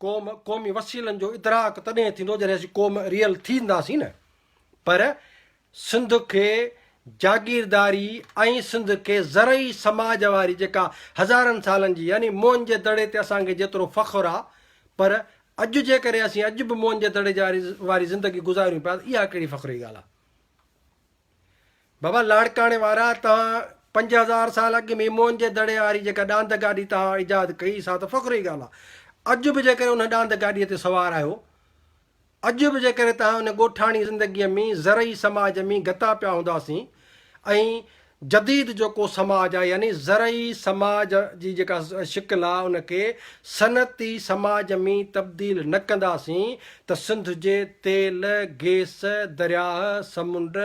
قوم قومي وسيلن جو ادراڪ تڏهن ٿيندو جڏهن اسين قوم ريل ٿينداسين نه پر سنڌ کي جاگيرداري ۽ سنڌ کي زرعي سماج واري جيڪا هزارن سالن جي يعني موئن جي دڙي تي اسان کي جيترو فخر آ پر اڄ جيڪڏهن اسين اڄ به موئن جي دڙي جي واري زندگي گذاريون پيا ته اها ڪهڙي فخر جي ڳالهه آ. بابا لاڙڪاڻي وارا توهان پنج هزار سال اڳ ۾ موهن جي دڙي واري جيڪا ڏاند گاڏي توهان ايجاد ڪئي سا ته فخر جي ڳالهه آهي اڄ به جيڪڏهن ان ڏاند گاڏيء تي سوار آهيو اڄ به جيڪڏهن توهان ان ڳوٺاڻي زندگيء ۾ زرعي سماج ۾ گتا پيا هونداسين ۽ جديد جيڪو سماج آهي يعني زرعي سماج جي جيڪا شڪل آهي ان کي صنعتي سماج ۾ تبديل نه ڪنداسين ته سنڌ جي تيل، گيس، درياهه، سمنڊ،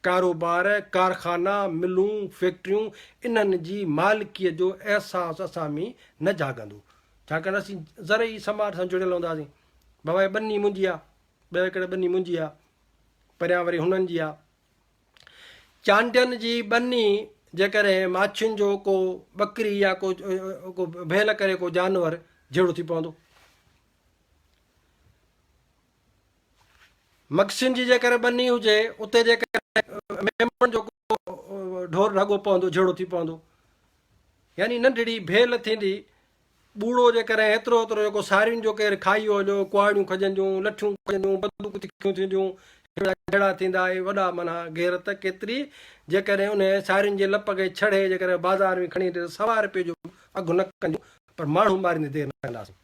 ڪاروبار، ڪارخانا، ملون، فيڪٽريون انهن جي مالڪيء جو احساس اسان ۾ نه جاڳندو، ڇاڪاڻ ته اسين زرعي سماج سان جڙيل هونداسين. بابا هيء ٻني منهنجي آ، ٻه ايڪڙ ٻني منهنجي آ، پريان وري هنن جي آ. چانڊين جي ٻني جيڪڏهن ماڇين جو ڪو ٻڪري يا ڪو ڀيل ڪري ڪو جانور جهيڙو ٿي پوندو. مگسين جي جيڪر ٻني هجي، اتي جيڪر ميمڻ جو ڪو ڍور ڍڳو پوندو، جهيڙو ٿي پوندو، يعني ننڍڙي ڀيل ٿيندي، ٻوڙو جيڪر ايترو ايترو جيڪو سارين جو ڪير کائي هو جو ڪهاڙيون کڄنديون، لٺيون کڄنديون، بندوقون تکيون ٿينديون، هيڙا جهيڙا ٿيندا، اهي وڏا معنيٰ غيرت ڪيتري، جيڪر انهي سارين جي لپ کي ڇڙهي جيڪر بازار ۾ کڻي وڃي ته سوا رپئي جو به اگهه نه ڪنديون، پر ماڻهو ماريندي دير نه ڪنداسين.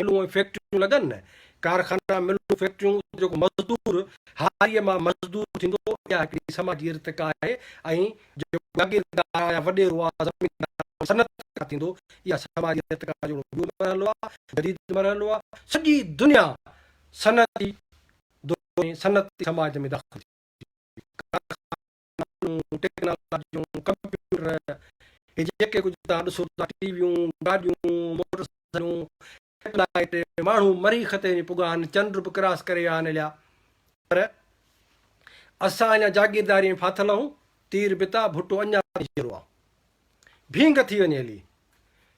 ملون ۽ فيڪٽريون لڳن نه، ڪارخانا، ملون، فيڪٽريون، اتي جيڪو مزدور هاريء مان مزدور ٿيندو، اها هڪڙي سماجي ارتقا آهي ۽ جيڪو جاگيردار يا وڏيرو آ زميندار آ صنعتڪار ٿيندو، اها سماجي ارتقا جو هڪڙو ٻيو مرحلو آ، جديد مرحلو آ، سڄي دنيا صنعتي دور ۾ صنعتي سماج ۾ داخل ٿي وئي، ڪارخانا، مشينون، ٽيڪنالاجيون، ڪمپيوٽر، هي جيڪي ڪجهه توهان ڏسو ٿا، ٽي ويون، گاڏيون، موٽر سائيڪلون، سيٽلائيٽ، ماڻهو مريخ تي وڃي پڳا آهن، چنڊ به ڪراس ڪري آهن هليا، پر اسان اڃا جاگيرداري ۾ ڦاٿل آهون، تير بتا ڀٽو اڃا تائين جيئرو آهي. ڀينگ ٿي وڃي هلي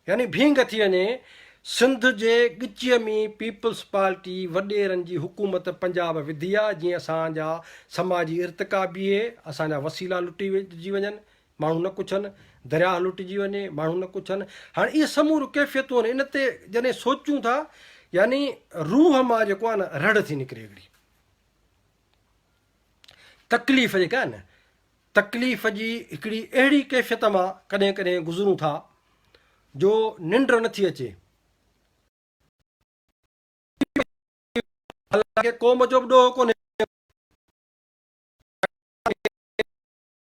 يعني ڀينگ ٿي وڃي سنڌ جي ڳچيء ۾ پيپلز پارٽي وڏيرن جي حڪومت پنجاب وڌي آ جيئن اسان جا سماجي ارتقا بيهي اسان جا وسيلا لٽجي وڃن ماڻهو نه ڪڇن درياهه لٽجي وڃي ماڻهو نه ڪڇن هاڻ اهي سموريون ڪيفيتون آهن ان تي جڏهن سوچون ٿا يعني روح مان جيڪو آهي نه رڙ ٿي نڪري هڪڙي تڪليف جيڪا آهي نه تڪليف جي هڪڙي اهڙي ڪيفيت مان ڪڏهن ڪڏهن گذرون ٿا جو ننڊ نه ٿي اچي. حالانڪه قوم جو به ڏوهه ڪونهي.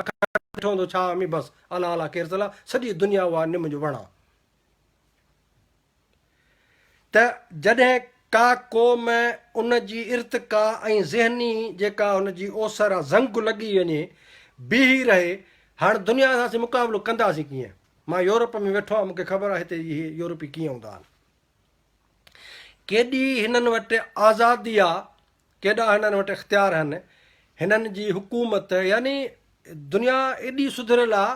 اکر ڏٺو هوندو ڇا امي بس انا الا کيرسلا سڄي دنيا اها نم جو وڻ آ ته جڏهن ڪا قوم ان جي ارتقا ۽ ذهني جيڪا هن جي اوسر آ زنگ لڳي وڃي بيهي رهي هاڻ دنيا سان اسين مقابلو ڪنداسين ڪيئن مان يورپ ۾ ويٺو آهيان مون کي خبر آ هتي اهي يورپي ڪيئن هوندا آهن ڪيڏي هنن وٽ آزادي آ ڪيڏا هنن وٽ اختيار هن. هنن جي حڪومت يعني دنيا ايڏي سڌريل آ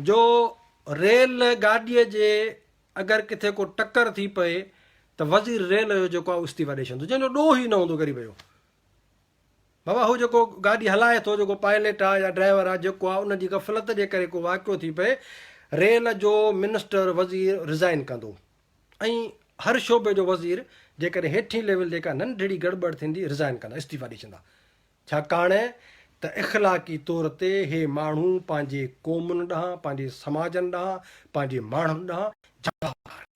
جو ريل گاڏيء جي اگر ڪٿي ڪو ٽڪر ٿي پئي ته وزير ريل جو جيڪو آ اهو استعيفا ڏئي ڇڏندو جنهن جو ڏوهه ئي نه هوندو غريب جو. بابا هو جيڪو گاڏي هلائي ٿو جيڪو پائليٽ آ يا ڊرائيور آ جيڪو آ ان جي غفلت جي ڪري ڪو واقعو ٿي پئي ريل جو منسٽر وزير رزائين ڪندو. ۽ هر شعبي جو وزير جيڪڏهن هيٺين ليول تي ڪا ننڍڙي گڙٻڙ ٿيندي رزائن ڪندا استعيفا ڏئي ڇندا ڇاڪاڻ ته اخلاقي طور تي هي ماڻهو پنهنجي قومن ڏانهن پنهنجي سماجن ڏانهن پنهنجي ماڻهن ڏانهن جوابدار آهن.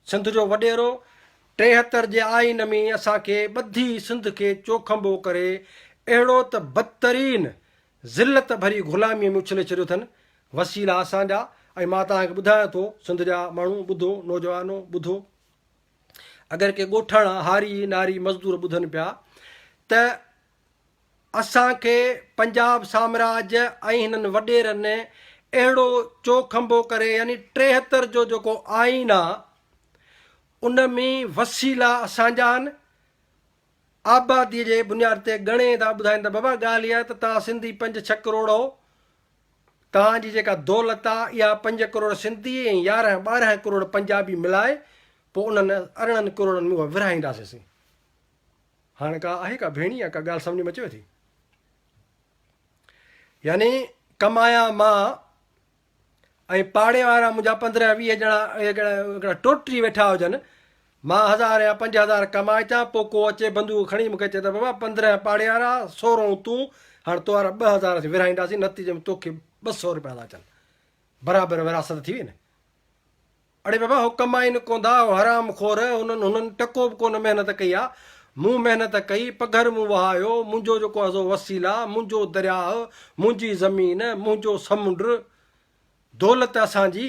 سنڌ جو وڏيرو ٽيهتر جي آئين ۾ اسان کي ٻڌي سنڌ کي چوکنڀو ڪري اهڙو ته بدترين ذلت ڀري غلاميء ۾ اڇلي ڇڏيو اٿن، وسيلا اسان جا ۽ مان توهان کي ٻڌايان ٿو سنڌ جا ماڻهو ٻڌو، نوجوانو ٻڌو، اگر ڪي ڳوٺاڻا، هاري، ناري، مزدور ٻڌن پيا ته اسان کي پنجاب سامراج ۽ هنن وڏيرن اهڙو چوکنڀو ڪري يعني ٽيهتر جو جيڪو آئين آ ان ۾ وسيلا اسان جا آهن، آباديء جي بنياد تي ڳڻي ٿا ٻڌائين ته بابا ڳالهه اها آهي ته توهان سنڌي پنج ڇهه ڪروڙ هئو، توهان جي جيڪا دولت آ اها پنج ڪروڙ سنڌي ۽ يارهن ٻارهن ڪروڙ پنجابي ملائي پوء انهن ارڙهن ڪروڙن ۾ اها ورهائينداسين سين. هاڻ ڪا آهي ڪا ڀيڻي يا ڪا ڳالهه سمجهه ۾ اچيو ٿي؟ يعني ڪمايا مان ۽ پاڙي وارا منهنجا پندرهن ويهه ڄڻا هڪڙا ٽوٽري ويٺا هجن، مان هزار يا پنج هزار ڪمائي اچان، پوء ڪو اچي بندوق کڻي مون کي چئي ته بابا پندرهن پاڙي وارا، سورهون تون، هاڻ توهارا ٻه هزار اسين ورهائينداسين، نتيجي ۾ توکي ٻه سؤ روپيا ٿا اچن، برابر ورهاست ٿي وئي نه. اڙي بابا هو ڪمائين ڪوندا هو حرام خور هنن هنن ٽڪو به ڪونه محنت ڪئي آ مون محنت ڪئي پگهر مون وهايو منهنجو جيڪو ازو وسيلا منهنجو درياهه منهنجي زمين منهنجو سمنڊ دولت اسان جي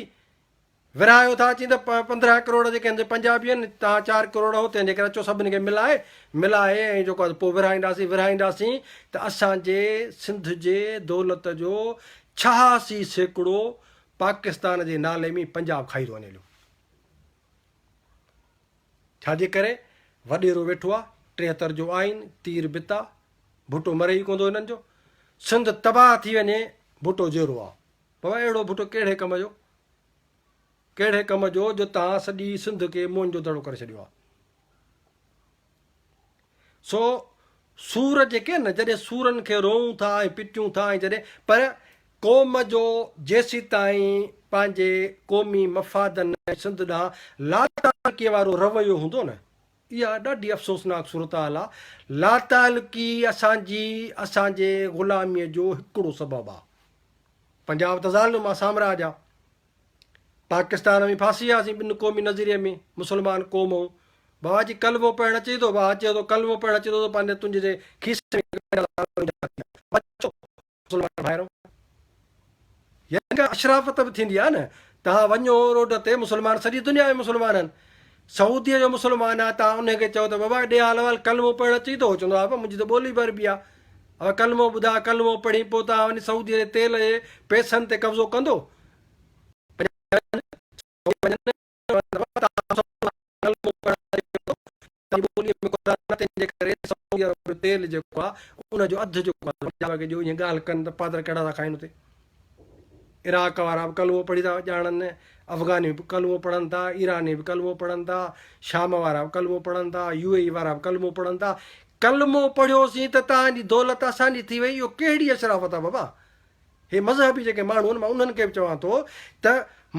ورهايو ٿا اچين ته پندرهن ڪروڙ جيڪي هن جي پنجابي آهن تان چار ڪروڙ هو تنهن جي ڪري اچو سڀني کي ملائي ملائي ۽ جيڪو پوء ورهائينداسين ورهائينداسين ته اسان جي سنڌ جي دولت جو ڇهاسي سيڪڙو پاڪستان جي نالي ۾ پنجاب کائي ٿو وڃي پيو. ڇا جي ڪري وڏيرو ويٺو آ ٽيهتر جو آئين تير بتا ڀٽو مري ئي ڪوندو هنن جو سنڌ تباهه ٿي وڃي ڀٽو جيئرو آ بابا اهڙو ڀٽو ڪهڙي ڪم جو ڪهڙي ڪم جو جو تان سڄي سنڌ کي مون جو دڙو ڪري ڇڏيو آ. سو سور جيڪي آهن نه جڏهن سورن کي روئون ٿا ۽ پٽيون ٿا ۽ جڏهن پر قوم جو جيسيتائين پنهنجي قومي مفادن ۽ سنڌ ڏانهن لاتعلقي وارو رويو هوندو نه اها ڏاڍي افسوسناڪ صورتحال آهي لاتعلقي اسان جي اسان جي غلامي جو هڪڙو سبب آهي پنجاب تظالم آهي سامراج آهي. پاڪستان ۾ ڦاسي وياسين ٻن قومي نظريي ۾ مسلمان قوم ائون بابا جي ڪلمو پڙهڻ اچي ٿو واهه چيو ٿو ڪلمو پڙهڻ اچي ٿو ته پنهنجي تنهنجي جي کيسي ۾ ڪهڙا لاڻ وجهيا ٿي اچو مسلمان ڀائرو يعني ڪا اشرافت به ٿيندي آهي نه تهان وڃو روڊ تي مسلمان سڄي دنيا ۾ مسلمان آهن سعوديء جو مسلمان آ تان انهي کي چئو ته بابا ڏي حال احوال ڪلمو پڙهڻ اچئي ٿو هو چوندو آ بابا منهنجي ته ٻولي به عربي آ هو ڪلمو ٻڌاء ڪلمو پڙهين پو تان وڃي سعوديء جي تيل جي پئسن تي قبضو ڪندو تيل جيڪو آ ان جو اڌ جو ڏيو ۽ ڳالهه ڪن ته پادر ڪهڙا ٿا کائين اتي عراق وارا به ڪلمو پڙهي ٿا ڄاڻن، افغاني به ڪلمو پڙهن ٿا، ايراني به ڪلمو پڙهن ٿا، شام وارا به ڪلمو پڙهن ٿا، يو اي اي وارا به ڪلمو پڙهن ٿا. ڪلمو پڙهيوسين ته توهان جي دولت اسان جي ٿي وئي، اهو ڪهڙي اشرافت آهي بابا؟ هي مذهبي جيڪي ماڻهو آهن مان انهن کي به چوان ٿو ته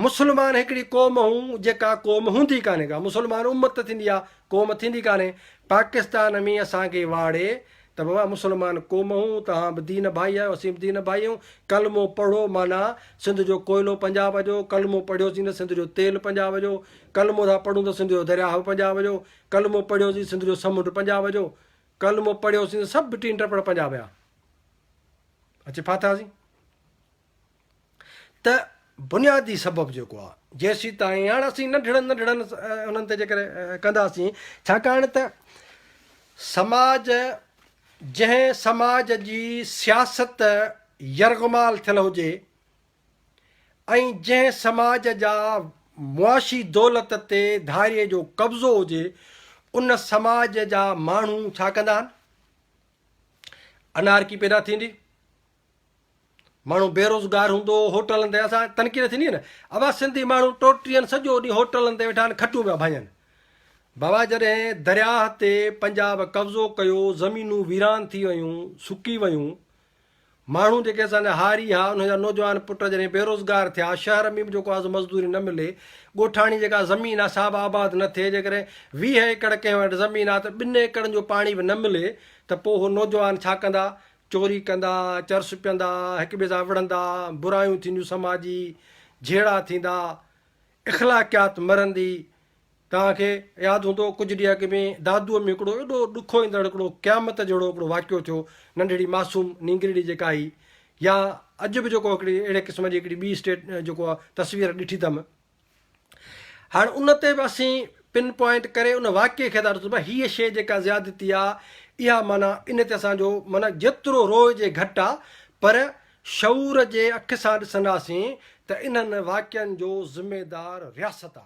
مسلمان هڪڙي قوم هئون جيڪا قوم هوندي ڪانهي ڪا، مسلمان امت ٿيندي آهي، قوم ٿيندي ڪانهي، پاڪستان ۾ اسان کي واڙي ته بابا مسلمان قوم اهون توهان به دين ڀائي آهيو اسين به دين ڀائي اهون ڪلمو پڙهو معنيٰ سنڌ جو ڪوئلو پنجاب جو ڪلمو پڙهيوسين ته سنڌ جو تيل پنجاب جو ڪلمو ٿا پڙهون ته سنڌ جو درياهه به پنجاب جو ڪلمو پڙهيوسين سنڌ جو سمنڊ پنجاب جو ڪلمو پڙهيوسين ته سڀ ٽين ٽپڙ پنجاب جا اچي ڦاٿاسين ته بنيادي سبب جيڪو آ جيسيتائين هاڻ اسين ننڍڙن ننڍڙن انهن تي ذڪر ڪنداسين ڇاڪاڻ ته سماج جنهن سماج جي سياست يرغمال ٿيل هجي ۽ جنهن سماج جا معاشي دولت تي ڌاري جو قبضو هجي ان سماج جا ماڻهو ڇا ڪندا آهن انارڪي پيدا ٿيندي ماڻهو بيروزگار هوندو هوٽلن تي اسان تنقيد ٿيندي هئي نه اوهان سنڌي ماڻهو ٽوٽرين سڄو ڏينهن هوٽلن تي ويٺا آهن کٽون پيا ڀاڃن بابا جڏهن درياهه تي پنجاب قبضو ڪيو زمينون ويران ٿي ويون سڪي ويون ماڻهو جيڪي اسان هاري ها انهن جا نوجوان پٽ جڏهن بيروزگار ٿيا شهر ۾ به جيڪو آز مزدوري نه ملي ڳوٺاڻي جيڪا زمين آ سا به آباد نه ٿئي جيڪڏهن 20 ايڪڙ ڪنهن وٽ زمين آ ته ٻن ايڪڙن جو پاڻي به نه ملي ته پوء هو نوجوان ڇا ڪندا چوري ڪندا، چرس پيئندا، هڪ ٻئي سان وڙهندا، برايون ٿينديون سماجي، جهيڙا ٿيندا، اخلاقيات مرندي. توهان کي ياد هوندو ڪجهه ڏينهن اڳ ۾ دادوء ۾ هڪڙو ايڏو ڏکو ايندڙ هڪڙو قيامت جهڙو هڪڙو واقعو ٿيو، ننڍڙي معصوم نينگرڙي جيڪا هئي يا اڄ به جيڪو هڪڙي اهڙي قسم جي هڪڙي ٻي اسٽيٽ جيڪو تصوير ڏٺي اٿم، هاڻ ان تي به اسين پن پوائنٽ ڪري ان واقعي کي ٿا ڏسون ته هيء شيء جيڪا زيادتي آ اها معنيٰ ان تي اسان جو معنيٰ جيترو روئجي گهٽ آ پر شعور جي اک سان ڏسنداسين ته انهن واقعن جو ذميدار رياست آ.